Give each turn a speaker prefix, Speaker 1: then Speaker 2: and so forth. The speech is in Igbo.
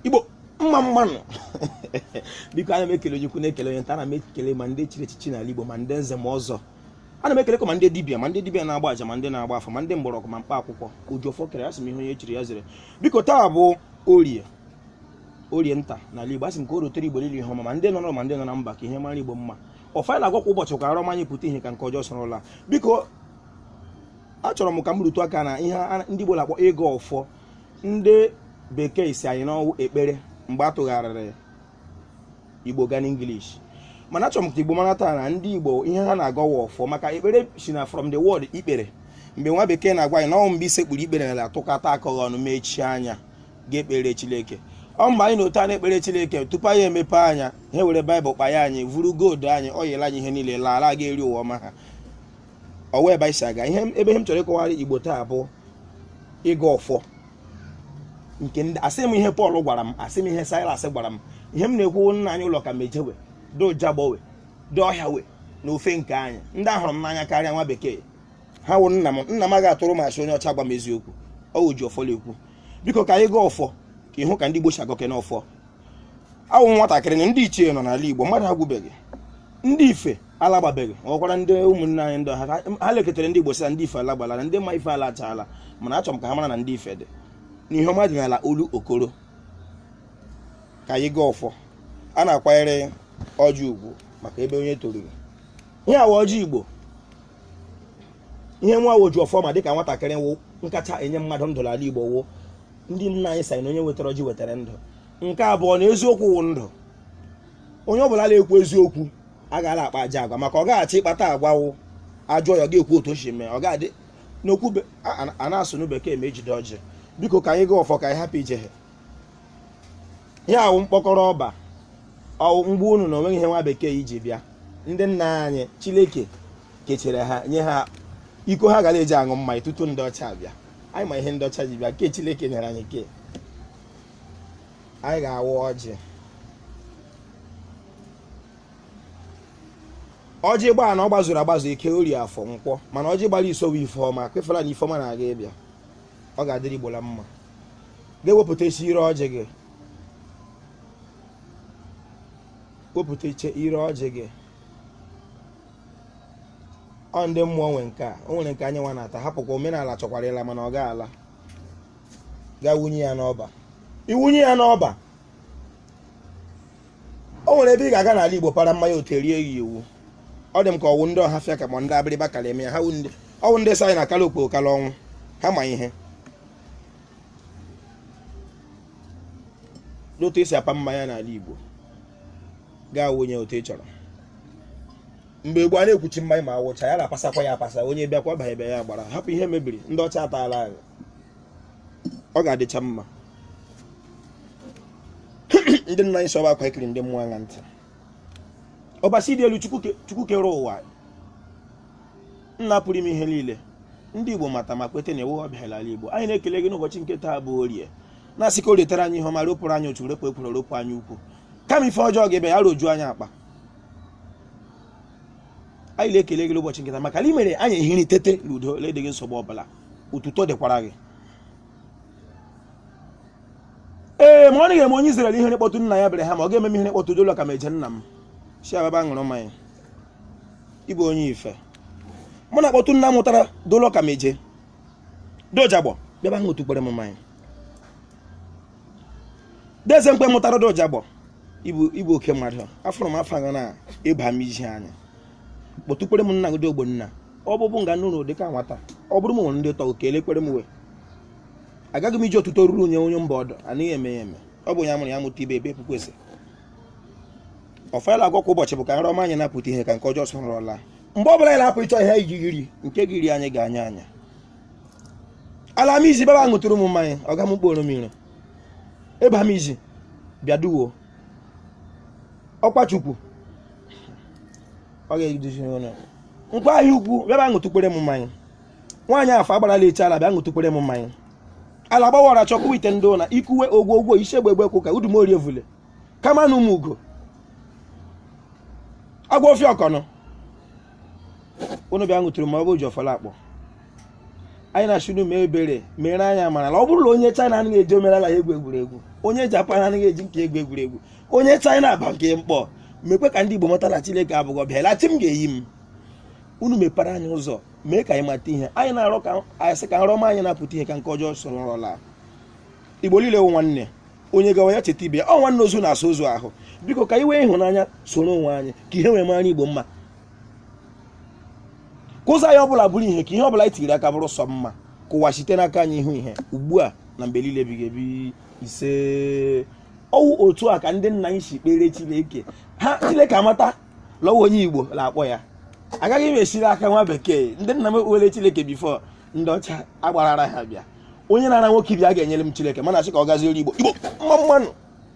Speaker 1: igbo mma mma nụ biko ana m ekele onye ukwu na-ekele onye nta ana m ekele ma ndị chiri echichi n'ala igbo ma ndị nze ma ọzọ ana m ekelekwa ma ndị dibia ma ndị dibia na-agba aja ma ndị na-agba afa ma ndị mgbọrọgwụ ma mkpa akwụkwọ ojiọfọ kere asị m ihe onye chiri ya zere biko taa bụ orie orie nta n'ala igbo asị m ka o rotere igbo niile ihe ọma ma ndị nọ n'ụlọ ma ndị nọ na mba ka ihe mara igbo mma ọfọ a na-agọ kwa ụbọchị ka arọ ọma anyị pụta ihe ka nke ọjọọ sọrọla biko achọrọ m ka m rụtụ aka na ihe a- ndị igbo na-akpọ ịgọ ọfọ ndị bekee sị anyị na ọ wụ ekpere mgbe a tụgharịrị igbo gaa n'english mana achọrọ m ka igbo mara taa na ndị igbo ihe ha na-agọ wụ ọfọ maka ekpere si na from the word ikpere mgbe nwa bekee na-agwa anyị na ọ wụ mgbe i sekpuru ikpere na-atụkọta aka gị ọnụ mechie anya ga-ekpere chineke ọ mgbe anyị nọ otu a na-ekpere chineke tupu anyị emepe anya ha were baịbụl kpanye anyị vuru gold anyị oil anyị ihe niile laa ala ha ga eri ụwa ọma ha ọ wụ ebe anyị si aga ihe ebe ihe m chọrọ ịkọwara igbo taa bụ ịgọ ọfọ nke ndị asị m ihe Pọl gwara m asị m ihe Silas gwara m ihe m na-ekwu wụ nna anyị ụlọ ka mejewe dị ụjagbowe dị ọhịa we na ofe nke anyị ndị a hụrụ m n'anya karịa nwa bekee ha wụ nna m nna m agaghị atụrụ m asị onye ọcha agwa m eziokwu ọ wụ Ojiọfọ na-ekwu biko ka anyị gaa ọfọ ka ị hụ ka ndị Igbo si agọke n'ọfọ awụ m nwatakịrị na ndị ichie nọ n'ala Igbo mmadụ agwụbeghị ndị ife alagbabeghị ọkwara ndị ụmụnne anyị ndị ha lekọtara ndị Igbo sị na ndị ife alagbala na ndị ma ife alachaala mana achọrọ m ka ha mara na ndị ife dị na ihe ọma dị n'ala Olokoro ka anyị gaa ọfọ a na-akwanyere ọjị ugwu maka ebe onye toruru ihe a wụ ọjị Igbo ihe nwa Ojiọfọ ma dịka nwatakịrị wụ nke kacha enye mmadụ ndụ n'ala Igbo wụ ndị nna anyị sị na onye wetara ọjị wetara ndụ nke abụọ na eziokwu wụ ndụ onye ọ bụla na-ekwu eziokwu agaghị akpa ajọ agwa maka ọ gaghachi ịkpata agwa wụ a jụọ ya ọ ga-ekwu otu o si mee ọ ga-adị n'okwu a na-asụ na bekee ma ejide ọjị biko ka anyị gaa ọfọ ka anyị hapụ ije ha ihe a wụ mkpọkọrọ ọba ọ wụ m gwa unu na o nweghị ihe nwa bekee ji bịa ndị nna anyị Chineke kechere ha nye ha iko ha gara eji aṅụ mmanya tutu ndị ọcha abịa anyị ma ihe ndị ọcha ji bịa nke Chineke nyere anyị ke anyị ga-awa ọjị ọjị gbara anọ gbazuru agbazu eke orie afọ nkwọ mana ọjị gbara iso wụ ifeọma kwefela na ifeọma na-aga ịbịa ọ ga-adịrị Igbo la mma ga-ewepụta isi ire ọjị gị wepụta iche ire ọjị gị ọ ndị mmụọ nwe nke a o nwere nke anyị nwa na-ata hapụkwa omenala chọkwara ịla mana ọ ga-ala gaa wunye ya n'ọba i wunye ya n'ọba o nwere ebe ị ga-aga n'ala Igbo para mmanya otu erie ya iwu ọ dị m ka ọ wụ ndị ọhafịa ka ma ndị abịrịba kara eme ya ha ọ wụ ndị sị anyị na kala okpo kala ọnwụ ha ma ihe n'otu esi apa mmanya n'ala Igbo gaa wụnye otu ị chọrọ mgbe gboo a na-ekwuchi mmanya ma a wụcha ya na-apasakwa ya apasa onye bịakwa banye bịa ya gbara hapụ ihe mebiri ndị ọcha ataala anyị ọ ga-adịcha mma ndị nna anyị sọba akwa ikiri ndị mmụọ aṅaa ntị ọbasi dị elu Chukwu ke- Chukwu kere ụwa nna pụrụ ime ihe niile ndị Igbo mata ma kweta na ị wụ ọbịa n'ala Igbo anyị na-ekele gị n'ụbọchị nke taa bụ orie na-asị ka o retara anyị ihe ọma ropụrụ anyị otu repụ ekwuru ropụ anyị ukwu kama ife ọjọọ ga-ebe ya rojuo anyị akpa anyị na-ekele gị n'ụbọchị nke taa maka na i mere anyị ehiri tete n'udo na-edịghị nsogbu ọbụla otuto dịkwara gị ee ma ọ naghị eme onye Izrel ihe na-akpọtụ nna ya Abraham ọ ga-eme m ihe na-akpọtụ dụlọ ka m eje nna m si ababa ṅụrụ mmanya ị bụ onye ife mụ na-akpọtụ nna mụtara dụlọ ka m eje dojagbọ bịaba ṅụtụkwere m mmanya deze mkpe mụtara dojagbọ ị bụ oke mmadụ afọrọ m afọ na ịba m iji anya kpọtụkwere m nna gị ogbonna ọ bụbụ nga nụrụ dị ka nwata ọ bụrụ m nwere ndị tọgụ ka elekwere m wee agaghị m iji ọtụtụ oruru onye onye mba ọdụ anaghị eme ya eme ọ bụ ya mụrụ ya mụta ibe ebe puku ese ọfela agwa kwa ụbọchị bụ ka nrọ ọma anyị na-apụta ihe ka nke ọjọọ soro laa mgbe ọ bụla anyị na-apụ ịchọ ihe anyị ga-eri nke ga-eri anyị ga-anya anya ala m izi bịaba ṅụtụrụ m mmanya ọ ga m kporo m iro ịba m izi bịa duwo ọkwa chukwu ọ ga-eduzi ụlọ nkwọ ahịa ukwu bịaba ṅụtụkwere m mmanya nwaanyị afọ agbarala eche ala bịa ṅụtụkwere m mmanya ala gbawara chọkwa ite ndị ụna ikuwe ogwo ogwo isi egbe egbe kwụ ka udumorie vule kama na ụmụ ugo agwa ofe ọkọnọ unu bịa ṅụtụrụ ma ọ bụ oji ọfọ na-akpọ anyị na-asị unu mee ebere mere anyị a mara na ọ bụrụ na onye China anaghị eji omenala ya egwu egwuregwu onye Japan anaghị eji nke ya egwu egwuregwu onye China aba nke mkpọ mekwe ka ndị Igbo mata na Chineke abụghị ọbịa lachi m ga-eyi m unu mepere anyị ụzọ mee ka anyị mata ihe anyị na-arọ ka a sị ka nrọ ọma anyị na-apụta ihe ka nke ọjọọ soro nrọ laa Igbo niile wụ nwanne onye gawa ya cheta ibe ya ọ nwanne ozu na-asa ozu ahụ biko ka anyị wee ịhụnanya soro onwe anyị ka ihe wee mara igbo mma ka ụzọ anyị ọbụla bụrụ ihe ka ihe ọbụla anyị tiri aka bụrụ sọ mma ka ụwa site n'aka anyị hụ ihe ugbu a na mgbe niile ebighị ebi ise ọ wụ otu a ka ndị nna anyị si kpere chineke ha chineke amata la ọ wụ onye igbo na-akpọ ya agaghị m esiri aka nwa bekee ndị nna m ekpere chineke before ndị ọcha agbara ara ha bịa onye na-ara nwoke ibe ya ga-enyere m Chineke mana a sị ka ọ gaziere Igbo Igbo mma mma nụ